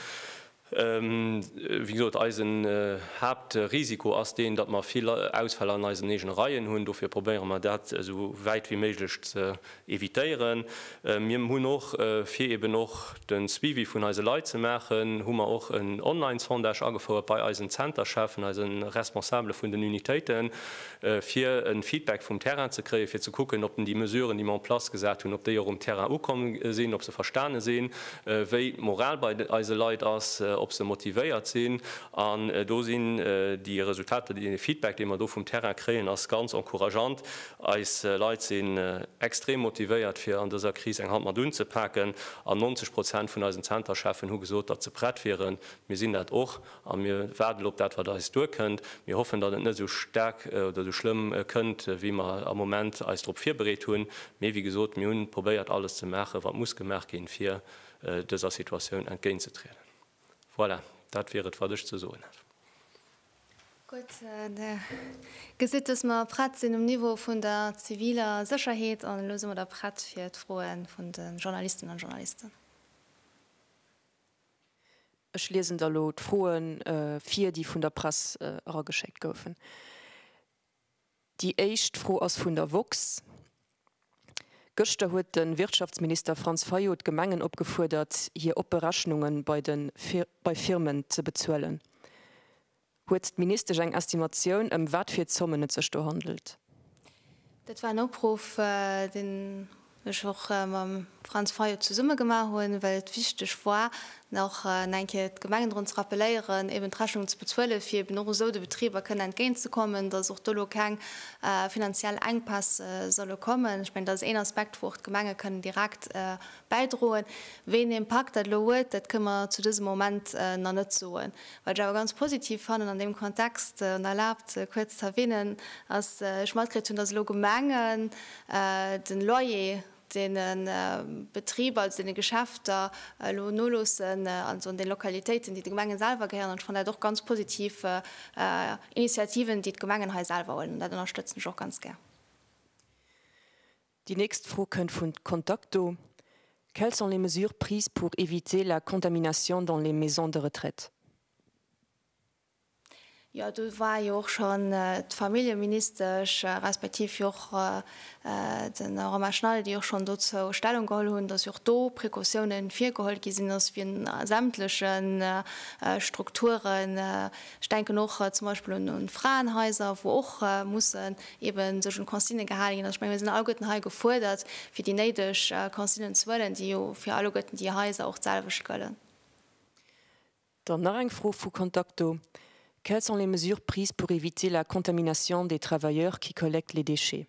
Wéi gesot, eisen Haaptrisiko ass deen, datt mer vill Ausfäll an eisen eegene Reien hunn. Dofir probéiere mer, dat esou wäit wéi méiglech ze evitéieren. Mir hunn och, fir eben och de Suivi vun eise Leit ze maachen, hu mer och en Online-Sondage agefouert bei eisen Zentercheffen, eise Responsabele vun den Unitéiten, fir e Feedback vum Terrain ze kréien, fir ze kucken, ob déi Mesuren, déi mer en place gesat hunn, ob déi och um Terrain ukomm sinn, ob se verstane sinn, wéi d'Moral bei eise Leit ass, ob se motivéiert sinn. An do sinn déi Resultater, dee Feedback, dee mer do vum Terrain kréien, ass ganz encourageant. Eis Leit sinn extrem motivéiert fir an dëser Kris eng Hand mat unzepaken an 90 Prozent vun eisen Zentercheffen hu gesot, datt se prett wieren. Mir sinn dat och a mir waarden elo op dat wat eis duerkënnt. Mir hoffen, datt et net esou staark oder esou schlëmm kënnt wéi mer am Moment eis drop virbereet hunn. Mee wéi gesot, mir hunn probéiert alles ze maachen, wat muss gemaach ginn, fir dëser Situatioun entgéintzetrieden. Voilà, dat wier et wat ech ze soen hätt. Gutt, Dir gesitt, dass mer prett sinn um Niveau vun der ziviler Sécherheet. An elo si mer da prett fir d'Froe vun de Journalisten an Journalisten. Ech liesen da elo d'Froe vir, déi vun der Press erageschéckt goufen. Déi éischt Fro ass vun der woxx. Gëschter huet de Wirtschaftsminister Franz Fayot d'Gemengen opgefuerdert, hir oppe Rechnunge bei de bei Firmen ze bezuelen. Huet d'Ministesch eng Estimatioun, ëm wat fir Zommen et sech do handelt? Dat war en Opruff, deen ech och mam Franz Fayot zesumme gemaach hunn, well et wichteg war, nach eng Kéier d'Gemengen drun ze rappelieren, eben d'Rechnung ze bezuelen, fir eben och esou de Betriber kënnen entgéintzekommen, dass och do elo keng finanziell Enkpäss solle kommen. Ech mengen, dat ass een Aspekt, wou och d'Gemenge kënnen direkt bäidroen. Wéi een Impakt dat elo huet, dat kënne mer zu dësem Moment nach net soen. Wat ech awer ganz positiv fannen an deem Kontext, an erlaabt, kuerz z'erwähnen, ass, ech matkritt hunn, dass elo Gemengen den Loyer deene Betriber, also deene Geschäfter elo noloossen, also an deene Lokalitéiten, déi de Gemengen selwer gehéieren. Ech fannen dat och ganz positiv Initiativen, déi d'Gemengen hei selwer huelen, an dat ënnerstëtzen ech och ganz gär. Déi nächst Fro kënnt vun Contacto, Quelles sont les mesures prises pour éviter la contamination dans les maisons de retraite? Jo, do war jo och schonn d'Familljeministesch respektiv jo och de Romain Schneider, déi och schonn dozou Stellung geholl hunn, datt jo och do Precautioune virgeholl gi sinn, datt vun sämtleche Strukturen, ech denken och zum Beispill un d'Fraenhaiser, wou och mussen eben sech un d'Consignë gehale ginn. Also ech menge mir sinn alleguerten hei gefuerdert, fir déi néideg Consignen ze huelen, déi jo fir alleguerten déi Haiser och d'selwecht gëllen. Dann nach eng Fro vu Contacto, Quelles sont les mesures prises pour éviter la contamination des travailleurs qui collectent les déchets?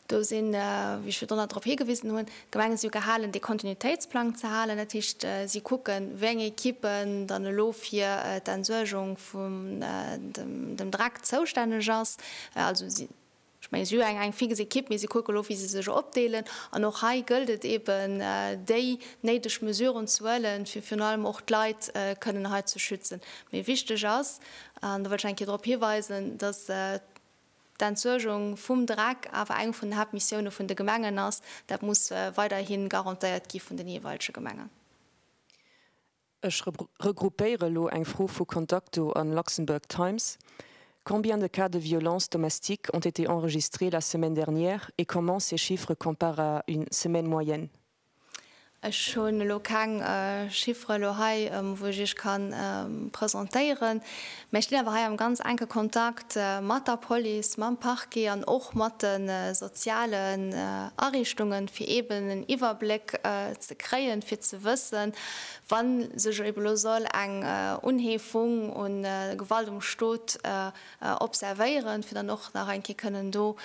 Do sinn, wéi ech virdrun nach drop higewisen hunn, d'Gemenge si jo gehalen, dee Kontinuitéitsplang ze halen. Dat heescht, si kucken, wéi eng Equippen dann elo fir d'Entsuergung vun dem Dreck zoustänneg ass. Also si Ech mengen, si hu eng fix Ekipp, mee si kucke lo, wéi se sech opdeelen. An och hei gëllt et eeben, déi néideg Mesuren ze huelen, fir virun allem och d'Leit kënnen hei ze schützen. Mee wichteg ass, an do wëll ech eng Kéier drop hiweisen, dass d'Entsuergung vum Dreck awer eng vun den Haaptmissioune vun de Gemengen ass. Dat muss weiderhi garantéiert gi vun de jeeweilege Gemengen. Ech regroupéiere elo eng Fro vu Contacto an Luxembourg Times, Combien de cas de violences domestiques ont été enregistrés la semaine dernière et comment ces chiffres comparent à une semaine moyenne? Ech hunn elo keng Chiffere elo hei, wou ech Iech ka presentéieren. Mä ech stinn awer hei am ganz enke Kontakt mat der Police, mam Parquet an och mat de sozialen Ariichtunge fir eeben en Iwwerbléck ze kréien, fir ze wëssen, wa sech eeben elo soll eng Unheefung u Gewalt um Stot observéieren, fir dann och nach eng Kéier kënnen do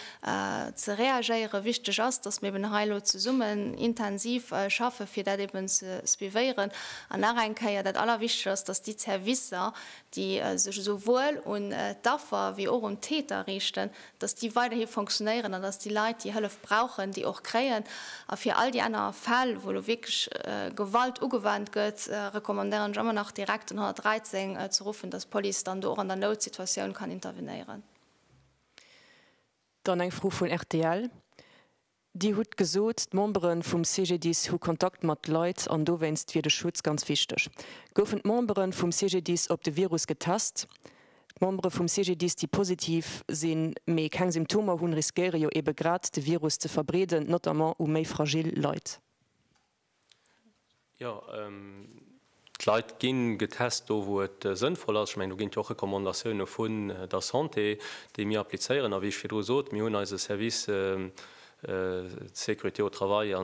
ze reagéieren. Wichteg ass, datt mir eeben hei elo zesummen intensiv schaffen, fir dat eeben ze suivéieren. An nach eng Kéier, Dat Allerwichtegst ass, datt déi Zerwisser, déi sech esouwuel un d'Affer wéi och un d'Täter riichten, datt déi weiderhi fonctionnéieren an datt déi Leit, déi Hëllef brauchen, déi och kréien. A fir all déi aner Fäll, wou elo wierklech Gewalt ugewannt gëtt, recommandéieren ech ëmmer nach direkt den 113 ze ruffen, datt d'Police dann do och an der Noutsituatioun kann intervenéieren. Dann eng Fro vun rtl. Dir hutt gesot, d'Membere vum CGDIS hu Kontakt mat Leit an dowéinst wier de Schutz ganz wichteg. Goufen d'Membere vum CGDIS op de Virus getest? D'Membere vum CGDIS, déi positiv sinn, mee keng Symptomer hunn, riskéiere jo ebe grad de Virus ze verbreeden, notamment u méi fragil Leit. Jo, d'Leit ginn getest do, wou et sënnvoll ass. Ech mengen, do ginn et jo och Recommandatioune vun der Santé, déi mir applizéieren. A wéi ech virdru sot, mir hunn eise Service sécurité au travail a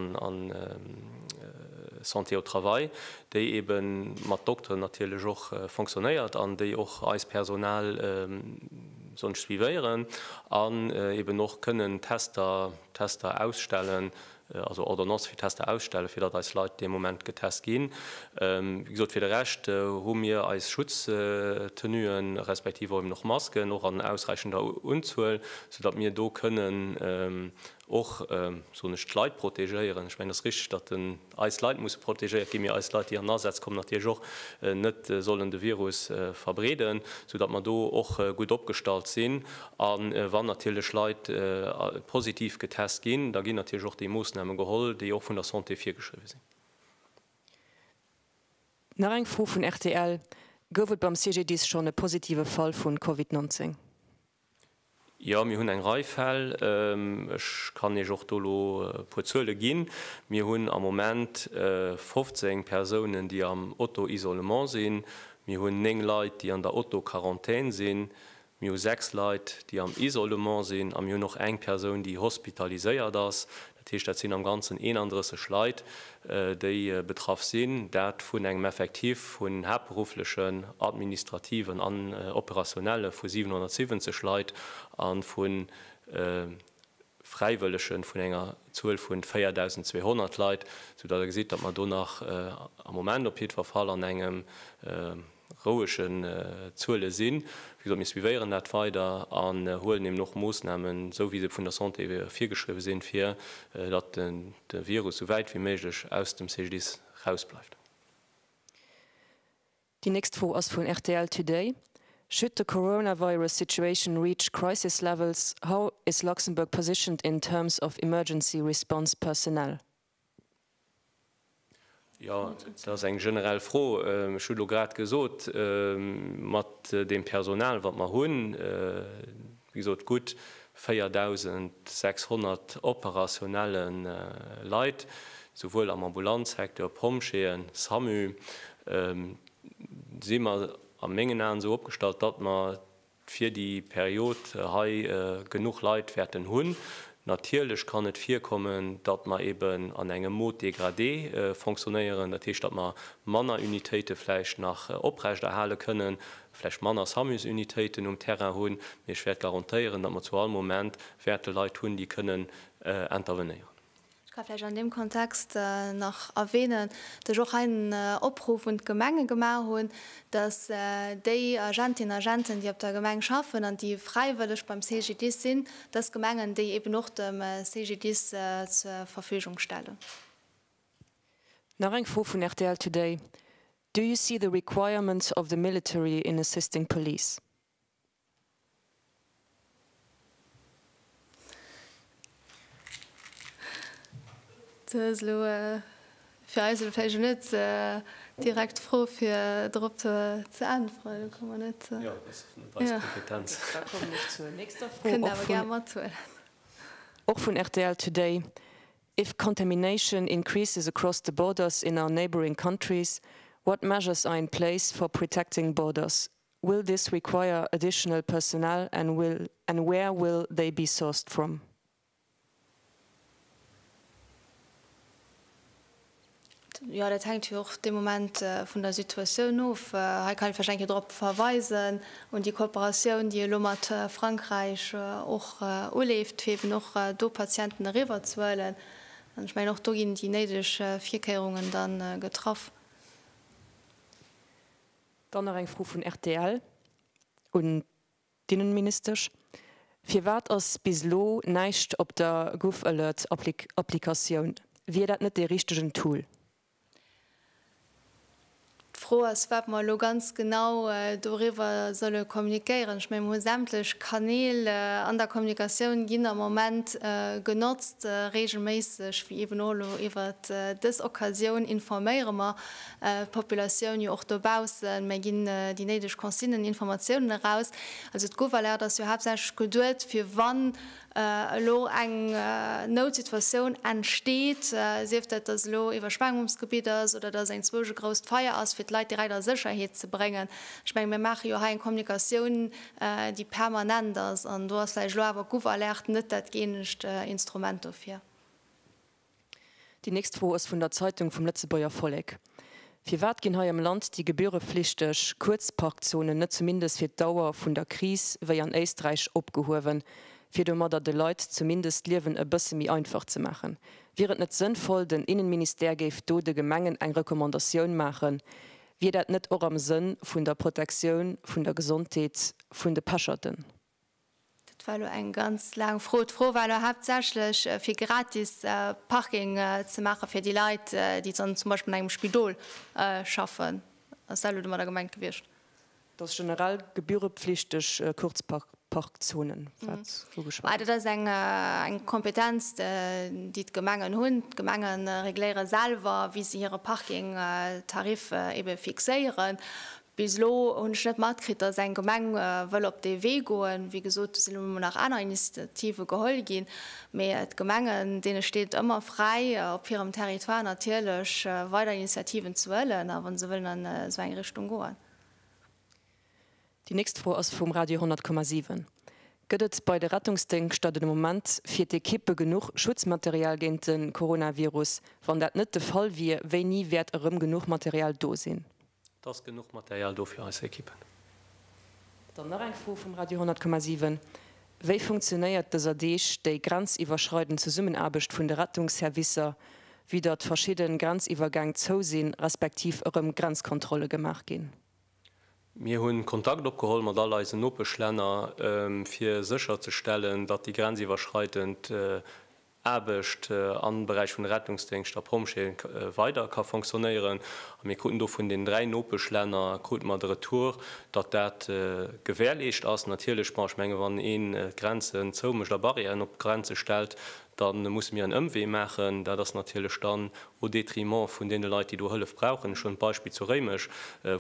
santé au travail, déi ebe mat Dokteren natierlech och fonctionnéiert an déi och eist Personal soen ech suivéieren an eben och kënnen Tester ausstellen, also Ordonnance fir Tester ausstellen, fir datt eis Leit dee Moment getest ginn. Wéi gesot, fir de Rescht hu mir eis Schutztenuen, respektiv och eben och Masken och an ausräichender Unzuel, sou datt mir do kënnen och, soen ech, d'Leit protegéieren. Ech mengen, et ass richtig, datt eis Leit musse protegéiert ginn, mee eis Leit, déi an den Asaz kommen, natierlech och net sollen de Virus verbreeden, sou datt mer do och gutt opgestallt sinn. A wann natierlech Leit positiv getest ginn, da ginn natierlech och déi Moossname geholl, déi och vun der Santé virgeschriwwe sinn. Nach eng Fro vun rtl, Gouf et beim CGDIS schonn e positive Fall vu Covid 19? Jo, mir hunn eng Rei Fäll. Ech kann Iech och do elo e puer Zuele ginn. Mir hunn am Moment 15 Persounen, déi am Auto-Isolement sinn. Mir hunn 9 Leit, déi an der Auto-Quarantän sinn. Mir hu sechs Leit, déi am Isolement sinn a mir hunn och eng Persoun, déi hospitaliséiert ass. Dat heescht, dat sinn am Ganzen 31 Leit, déi betraff sinn, dat vun engem Effektif vun haaptberufflechen, administrativen an operationelle vu 770 Leit a vu Fräiwëllege vun enger Zuel vu 4.200 Leit, soudatt Der gesitt, datt mer do nach am Moment op jiddwer Fall an engem, rouegen Zuele sinn. Wéi gesot, mir suivéieren dat weider an huelen eben och Moossnamen, esou wéi se vun der Santé virgeschriwwen sinn, fir datt de Virus esou wäit wéi méiglech aus dem CGDIS erausbleift. Déi nächst Fro ass vun rtl Today, Should the coronavirus situation reach crisis levels, how is Luxembourg positioned in terms of emergency response personnel? Jo, dat ass eng generell Fro. Ech hu elo grad gesot, mat deem Personal, wat mer hunn, wéi gesot, gutt 4.600 operationelle Leit, souwuel am Ambulanzsecteur, Pompjeeën, Samu, si mer a mengen Aen esou opgestallt, datt mer fir déi Period hei genuch Leit wäerten hunn. Natierlech kann et virkommen, datt mer eben an engem Mode dégradé fonctionnéieren, dat heescht, datt mer manner Unitéite vläicht nach oprechterhale kënnen, vläicht manner Samus-Unitéiten um Terrain hunn, mee ech wäert garantéieren, datt mer zu all Moment wäerte Leit hunn, déi kënnen intervenéieren. Ech ka vläicht an deem Kontext nach erwänen, dass ech och hei en Opruff un d'Gemenge gemaach hunn, dass déi Agentinnen an Agenten, déi op der Gemeng schaffen an déi fräiwëlleg beim CGDIS sinn, dass d'Gemengen déi eben och dem CGDIS zur Verfügung stellen. Nach eng Fro vun rtl Today, Do you see the requirements of the military in assisting police? Do ass elo fir eis elo vläicht net direkt d'Fro fir dorop ze äntweren. Do komme mer net zu. Jo, dat ass net eis Kompetenz. Da kommen ech zur nächster Fro. Kënnt Der awer gär mathuelen. Och vun rtl Today, If contamination increases across the borders in our neighbouring countries, what measures are in place for protecting borders Will this require additional personnel and will and where will they be sourced from? Jo, dat hänkt jo och dee Moment vun der Situatioun of. Hei kann ech vläicht eng Kéier drop verweisen, un déi Kooperatioun, déi elo mat Frankräich och uleeft, fir eeben och do Patienten eriwwerzehuelen. An ech mengen, och do ginn déi néideg Virkéierungen da getraff. Dann nach eng Fro vun rtl un d'Inneministesch, Firwat ass bis elo näischt op der GouvAlert-Applikatioun? Wier dat net dee richtegen Tool? D'Fro ass, wat mer elo ganz genau doriwwer solle kommunikéieren. Ech mengen, mir hu sämtlech Kanäl an der Kommunikatioun ginn am Moment genotzt, reegelméisseg, wéi eeben och elo iwwert dës Occasioun informéiere mer. Populatioun jo och dobaussen, mä ginn déi néideg Consignen, Informatiounen eraus? Also d'Gouv'alerte ass jo haaptsächlech geduet fir wann elo eng Noutsituatioun entsteet, sief dat dass elo Iwwerschwemmungsgebitt ass oder dass eng zwousch e grousst Feier ass, fir d'Leit direkt a Sécherheet ze bréngen. Ech menge mir maache jo hei eng Kommunikatioun déi permanent ass an do ass vläicht elo awer d'Gouv'alerte net dat gëeenegt Instrument dofir. Déi nächst Fro ass vun der Zeitung vum Lëtzebuerger Vollek, Firwat ginn hei am Land déi gebühreflichteg Kuerzparkzonen net zumindest fir d'Dauer vun der Kris wéi an Éisträich opgehuewen, fir domadder de Leit zumindest d'Liewen e bësse méi einfach ze maachen? Wier et net sënnvoll, den Innenministère géif do de Gemengen eng Recommandatioun maachen? Wier dat net och am Sënn vun der Protektioun vun der Gesondheet vun de Pecherten? Dat war elo eng ganz laang Fro. D'Fro war elo haaptsächlech, fir gratis Parking ze maache fir déi Leit, déi dann zum Beispill an engem Spidol schaffen. Ass dat elo domadder gemengt gewiescht? Dass generell gebührepflichteg Kurzparkzonen, wat ugeschwat gëtt. Dat ass eng Kompetenz, déi d'Gemengen hunn. D'Gemenge regléiere selwer, wéi se hire Parkingtarif ebe fixéieren. Bis elo hunn ech net matkritt, dass eng Gemeng wëll op dee Wee goen. Wéi gesot, do sinn elo mol nach aner Initiative geholl ginn. Mee d'Gemengen, deene steet ëmmer fräi, op hirem Territoire natierlech weider Initiativen ze huelen, a wa se wëllen an esou eng Richtung goen. Déi nächst Fro ass vum Radio 10,7, Gëtt et bei de Rettungsdéngschter den Moment fir d'Ekippe genuch Schutzmaterial géint de Coronavirus? Wann dat net de Fall wier, wéini wäert erëm genuch Material do sinn? Et ass genuch Material do fir eis Ekippen. Dann nach eng Fro vum Radio 10,7, Wéi funktionéiert dëser Deeg déi grenziwwerschreidend Zesummenaarbecht vun de Rettungsservicer, vue datt verschidden Grenziwwergäng zou sinn, respektiv erëm Grenzkontrolle gemaach ginn? Mir hunn Kontakt opgeholl mat all eisen Nopeschlänner fir sécher ze stellen, datt déi grenziwwerschreidend Aarbecht am Beräich vun de Rettungsdéngscht a Pompjeeën weider ka fonctionnéieren. A mir kruten do vun den dräi Nopeschlänner krute mer de Retour, datt dat gewährleescht ass. Natierlech, bon, ech menge wann een d'Grenzen zoumécht a Barrièren op d'Grenze stellt, da musse mir en Ëmwee maachen. Dat ass natierlech dann au détriment vun deene Leit, déi do Hëllef brauchen. Ech hunn d'Beispill zu Réimech,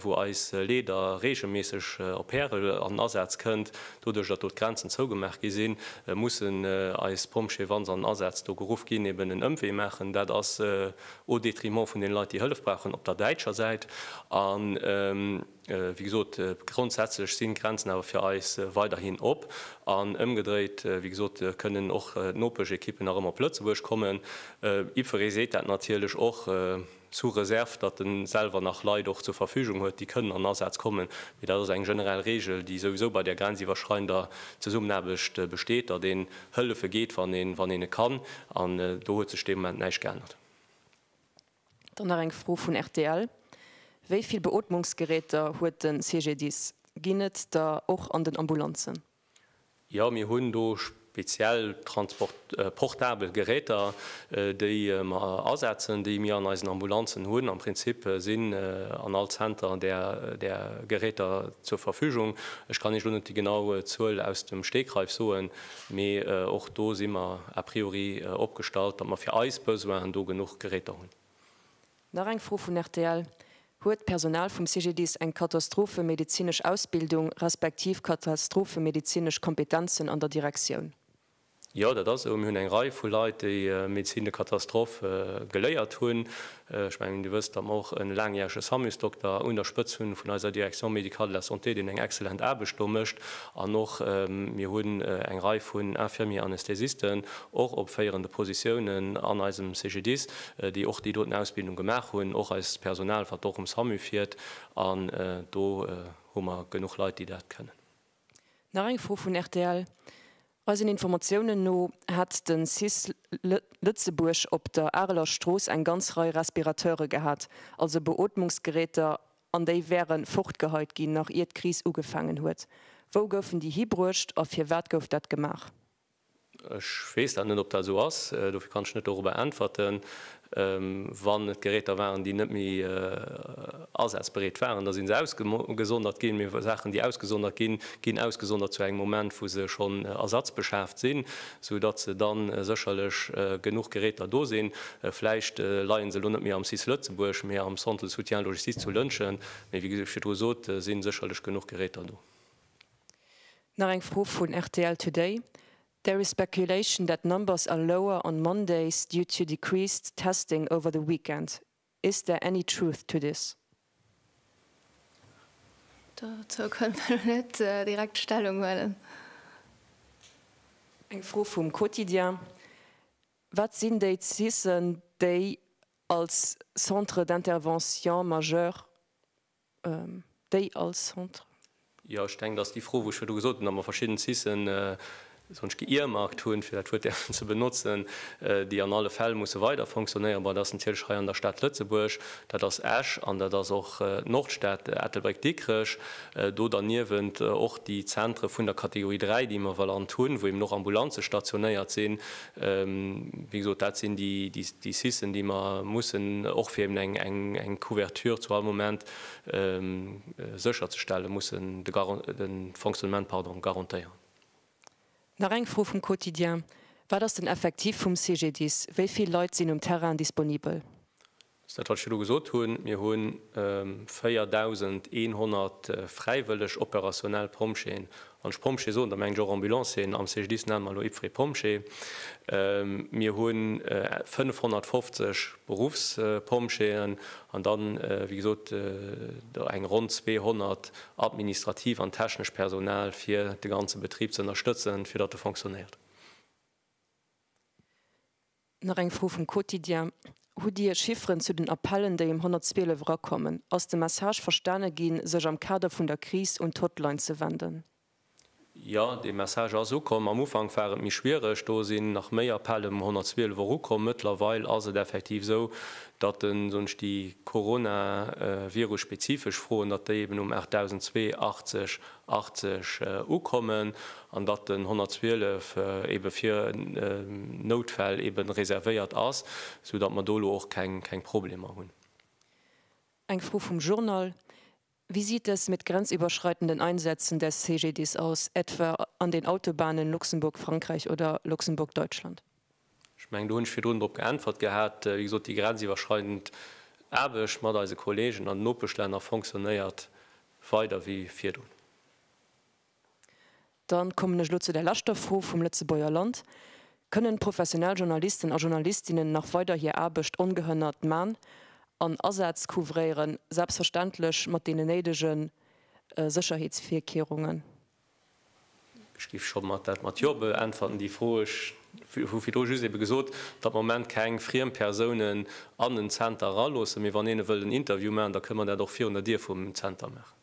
wou eis Leeder reegelméisseg op Härel an den Asaz kënnt. Doduerch, datt do d'Grenzen zougemaach gi sinn, mussen eis Pompjeeë, wa se an den Asaz do geruff ginn, eben en Ëmwee maachen. Dat ass au détriment vun deene Leit, déi Hëllef brauchen op der däitscher Säit. Wéi gesot, grondsätzlech sinn d'Grenzen awer fir eis weiderhin op. An ëmgedréit, wéi gesot, kënnen och d'Nopeschéquipen erëm op Lëtzebuerg kommen. Ypres seet dat natierlech och, sous réserve, datt en selwer nach Leit och zur Verfügung huet, déi kënnen an Asaz kommen. Mee dat ass eng generell Reegel, déi souwisou bei där grenziwwerschreiender Zesummenaarbecht besteet, datt een hëllefe geet, wann een, wann een et kann. An do huet sech dee Moment näischt geännert. Dann nach eng Fro vun rtl, Wéi vill Beootmungsgeräter huet de CGDIS? Ginn et der och an den Ambulanzen? Jo, mir hunn do speziell portabel Geräter, déi mer asetzen, déi mir an eisen Ambulanzen hunn. Am Prinzip sinn an all Zenter där Geräter zur Verfügung. Ech kann Iech elo net déi genau Zuel aus dem Stegreif soen. Mee och do si mer a priori opgestallt, datt mer fir eis Besoinen do genuch Geräter hunn. Nach eng Fro vun rtl, Huet d'Personal vum CGDIS eng katastrophemedizinesch Ausbildung respektiv katastrophemedizinesch Kompetenzen an der Direktioun? Jo, dat ass esou. Mir hunn eng Rei vu Leit, déi Médecine de catastrophe geléiert hunn. Ech mengen, Dir wësst, datt mer och e laangjärege SAMU-s-Dokter un der Spëtz hunn vun eiser Direction médicale de la santé, deen eng excellent Aarbecht do mécht. An och mir hunn eng Rei vun Infirmiers-anesthésisten, och op féierende Positiounen an eisem CGDIS, déi och déi doten Ausbildung gemaach hunn. Och eist Personal, wat och um SAMU fiert. An do hu mer genuch Leit, déi dat kënnen. Nach eng Fro vun rtl, Eisen Informatiounen no hätt de cis Lëtzebuerg op der Areler Strooss eng ganz Rei Respirateure gehat, also Beootmungsgeräter, an déi wäre fortgeheit ginn, nach ier d'Kris ugefaangen huet. Wou goufen déi hibruecht a firwat gouf dat gemaach? Ech weess dat net, ob dat esou ass. Dofir kann ech net dorobber äntwerten. Wann et Geräter waren, déi net méi asazbereet waren, da si se ausgesondert ginn. Mee Saachen, déi ausgesondert ginn, ginn ausgesondert zu engem Moment, wou se schonn ersatzbeschaaft sinn, soudatt se da sécherlech genuch Geräter do sinn. Vläicht leien se elo net méi am cis Lëtzebuerg, mee am Centre de soutien logistique zu Lëntgen. Mee wéi ech virdru sot, si sécherlech genuch Geräter do. Nach eng Fro vun rtl Today, There is speculation that numbers are lower on Mondays due to decreased testing over the weekend. Is there any truth to this? Dozou kënnt mer elo net direkt Stellung huelen. Eng Fro vum Quotidien, Wat sinn déi CISen, déi als Centres d'intervention majeurs déi als Centre. Jo, ech denken, dass déi Fro, wou ech virdu gesot hunn, dass mer verschidden CISen sogenannt ge-earmarkt hunn, fir dat Wuert däerfen ze benotzen, déi an alle Fäll musse weider fonctionnéieren. Bon, dat ass natierlech hei an der Stad Lëtzebuerg, dat ass Esch an dat ass och d'Nordstad Ettelbréck-Dikrech. Do derniewent och déi Zentre vun der Kategorie 3, déi mer valant hunn, wou eeben och Ambulanze stationéiert sinn, Wéi gesot, dat sinn déi Sissen, déi mer mussen, och fir eben eng Couverture zu all Moment sécherzestellen, mussen de Fonctionnement garantéieren. Nach eng Fro vum Quotidien, Wat ass den Effektiv vum CGDIS? Wéi vill Leit sinn um Terrain disponibel? Ass dat wat ech elo gesot hunn. Mir hu 4.100 fräiwëlleg opérationnell Pompjeeën. Wann ech Pompjee soen, da mengen ech och Ambulancieren. Am CGDIS nenne mer elo IPFRE Pompjee. Mir hu 550 Beruffspompjeeën an da wéi gesot eng ronn 200 administrativ an technesch Personal fir de ganze Betrib ze ënnerstëtzen, fir datt e fonctionnéiert. Nach eng Fro vum Quotidien, Hutt Dir Chifferen zu den Appellen, déi um 112 erakommen? Ass de Message verstane ginn, sech am Kader vun der Kris un d'Hotline ze wenden? Jo, dee Message ass ukomm. Am Ufank war et méi schwiereg. Do sinn nach méi Appellen um 112 erukomm. Mëttlerweil ass et effektiv esou, datt den, soen ech, déi Corona-Virus-spezifesch Froen, datt déi eben um 8002 80 80 ukommen an datt den 112 ebe fir Noutfäll ebe reservéiert ass, sou datt mer do elo och keng Problemer hunn. Eng Fro vum Journal, Wie sieht es mit grenzüberschreitenden Einsätzen des CGDIS aus, etwa an den Autobahnen Luxemburg-Frankreich oder Luxemburg-Deutschland? Ech mengen, do hunn ech virdrun drop geäntwert gehat. Wéi gesot, déi grenziwwerschreidend Aarbecht mat eise Kollegen an den Nopeschlänner fonctionnéiert weider wéi virdrun. Dann kommen ech elo zu der leschter Fro vum Lëtzebuerger Land. Kënnen professionell Journalisten a Journalistinnen nach weider hir Aarbecht ongehënnert man an Asätz couvréieren, selbstverständlech mat deenen néidege Sécherheetsvirkehrungen? Ech géif scho mat dat mat jo beäntwerten, déi Fro. Ech hu virdru just ebe gesot, datt mer am Moment keng friem Persounen an den Zenter eraloossen. Mee wann een e wëllt en Interview maachen, da kënne mer dat och virun der Dier vum Zenter maachen.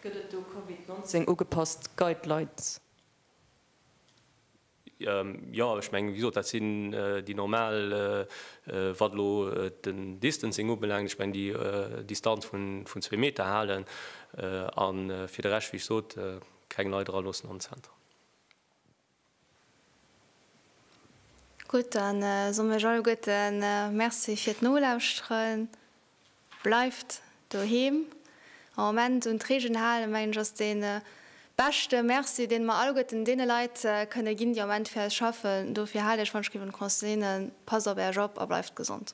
Gëtt et do Covid 19 ugepasst Guidelines? Jo, ech mengen, wéi gesot, dat sinn déi normal, wat elo den Distancing ubelaangt, ech mengen déi Distanz vun zwee Meter halen a fir de Rescht, wéi ech sot, keng Leit eraloossen an den Zenter. Gutt, da soen ech alleguerte Merci fir d'Nolauschteren. Bleift doheem, am Moment un d'Reegelen halen, mengen ech ass de beschte Merci deen mer alleguerten deene Leit kënne ginn, déi am Moment fir eis schaffen. Dofir haalt Iech, wann ech géif un d'Consignen, passt op Äerch op a bleift gesond.